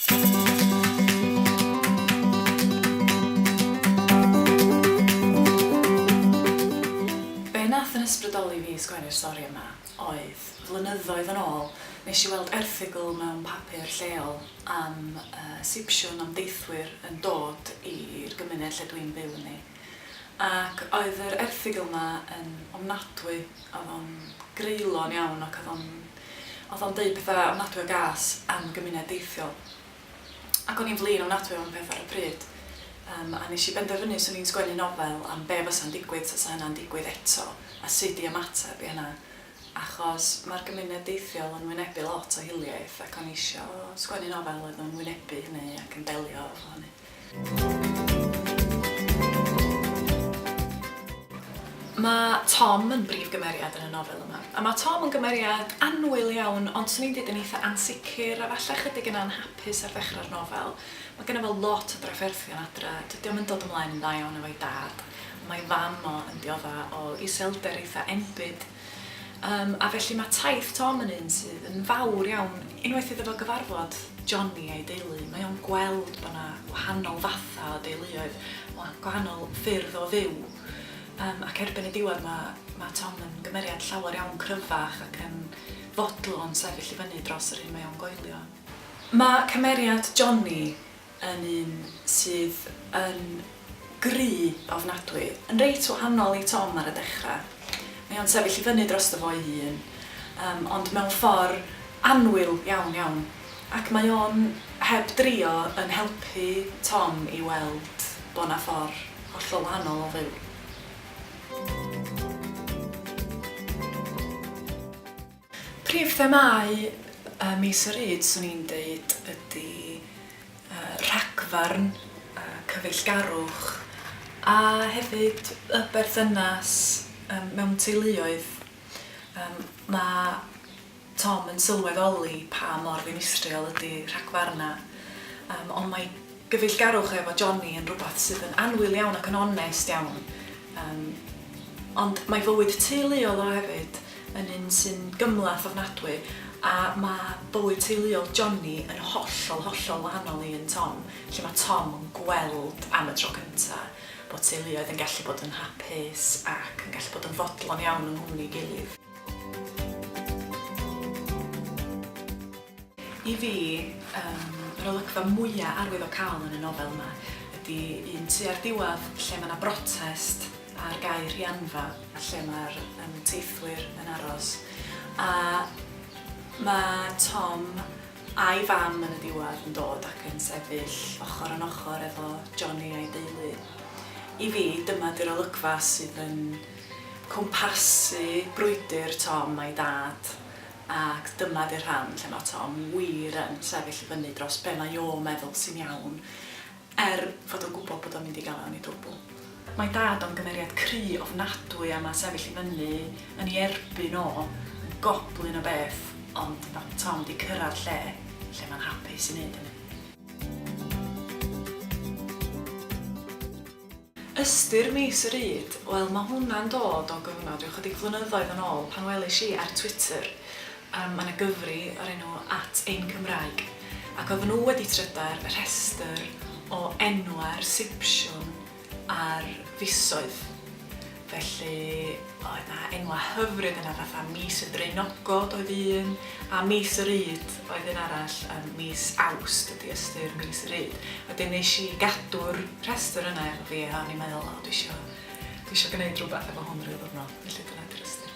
Be wnaeth fy ysbrydoli fi i sgwennu'r stori yma oedd, flynyddoedd yn ôl, nes i weld erthygl mewn papur lleol am Sipsiwn am deithwyr yn dod i'r gymuned lle dwi'n byw ynddi. Ac oedd yr erthygl 'ma yn ofnadwy, oedd o'n greulon iawn ac oedd o'n oedd o'n deud pethau ofnadwy o gas am y gymuned deithiol. Ac o'n i'n flin ofnadwy am y peth ar y pryd, yym, a nes i benderfynu 'swn i'n sgwennu nofel am be' fysa'n digwydd tasa hynna'n digwydd eto a sud i ymateb i hynna, achos ma'r gymuned deithiol yn wynebu lot o hiliaeth ac o'n i isio sgwennu nofel oedd yn wynebu hynny ac yn delio efo hynny. Mae Tom yn brif gymeriad yn y nofel yma. A mae Tom yn gymeriad annwyl iawn, ond 'swn i'n deud yn eitha' ansicr a falle chydig yn anhapus ar ddechrau'r nofel. Mae gynno fo lot o drafferthion adra, dydi o'm yn dod ymlaen yn dda iawn efo'i dad, ond mae ei fam o yn diodda' o iselder eitha' enbyd. Yym, a felly mae taith Tom yn un sydd yn fawr iawn, unwaith iddo fo gyfarfod Johnny a'i deulu, mae o'n gweld bod 'na wahanol fatha o deuluoedd, wa- gwahanol ffyrdd o fyw, yym ac erbyn y diwedd ma' ma' Tom yn gymeriad llawer iawn cryfach ac yn fodlon sefyll i fyny dros yr hyn mae o'n goelio. Ma' cymeriad Johnny yn un sydd yn gry ofnadwy, yn reit wahanol i Tom ar y dechra. Mae o'n sefyll i fyny drosto fo'i hun, yym, ond mewn ffor annwyl iawn iawn, ac mae o'n heb drio yn helpu Tom i weld bo' 'na ffor hollol wahanol o fyw. Prif themâu mis y rhyd, 'swn i'n deud, ydy rhagfarn, cyfeillgarwch a hefyd y berthynas mewn teuluoedd. Mae Tom yn sylweddoli pa mor ddinistriol ydy rhagfarnau, ond mae... Gyfeillgarwch efo Johnny yn rhywbeth sydd yn annwyl iawn ac yn onest iawn, yym, ond mae bywyd teuluol o hefyd yn un sy'n gymhleth ofnadwy a mae bywyd teuluol Johnny yn hollol, hollol wahanol i un Tom, lle mae Tom yn gweld am y tro cynta bod teuluoedd yn gallu bod yn hapus ac yn gallu bod yn fodlon iawn yng nghwmni ei gilydd. I fi, yr olygfa mwya arwyddocaol yn y nofel yma ydi un tua'r diwadd lle mae 'na brotest ar gae Rhianfa lle mae'r teithwyr yn aros a mae Tom a'i fam yn y diwadd yn dod ac yn sefyll ochr yn ochr efo Johnny a'i deulu. I fi, dyma 'di'r olygfa sydd yn cwmpasu brwydr Tom a'i dad Ac dyma di'r rhan lle mae Tom wir yn sefyll i fyny dros be mae o'n meddwl sy'n iawn, er fod o'n gwybod bod o'n mynd i gael e yn ei dwbl. Mae Dad am gymeriad cry ofnadwy a mae sefyll i fyny yn ei erbyn o yn goblyn o beth, ond mae Tom 'di cyrraedd lle lle mae'n hapus i wneud hynny. Ystyr mis y rud? Wel mae hwnna'n dod o gyfnod ryw chydig flynyddoedd yn ôl pan welish i ar Twitter yym ma' 'na gyfri o'r enw At Ein Cymraeg ac oedden nhw wedi trydar y rhestr o enwau'r Sipsiwn a'r fisoedd. Felly oedd 'na enwau hyfryd yna fatha Mis y Draenogod oedd un a Mis y Ryd oedd un arall, yym mis Awst ydi ystyr Mis y Ryd. Wedyn nes i gadw'r rhestr yna efo fi a o'n i'n meddwl o dwi isio dwi isio gneud rwbath efo hwn ryw ddiwrnod felly dyna 'di'r ystyr.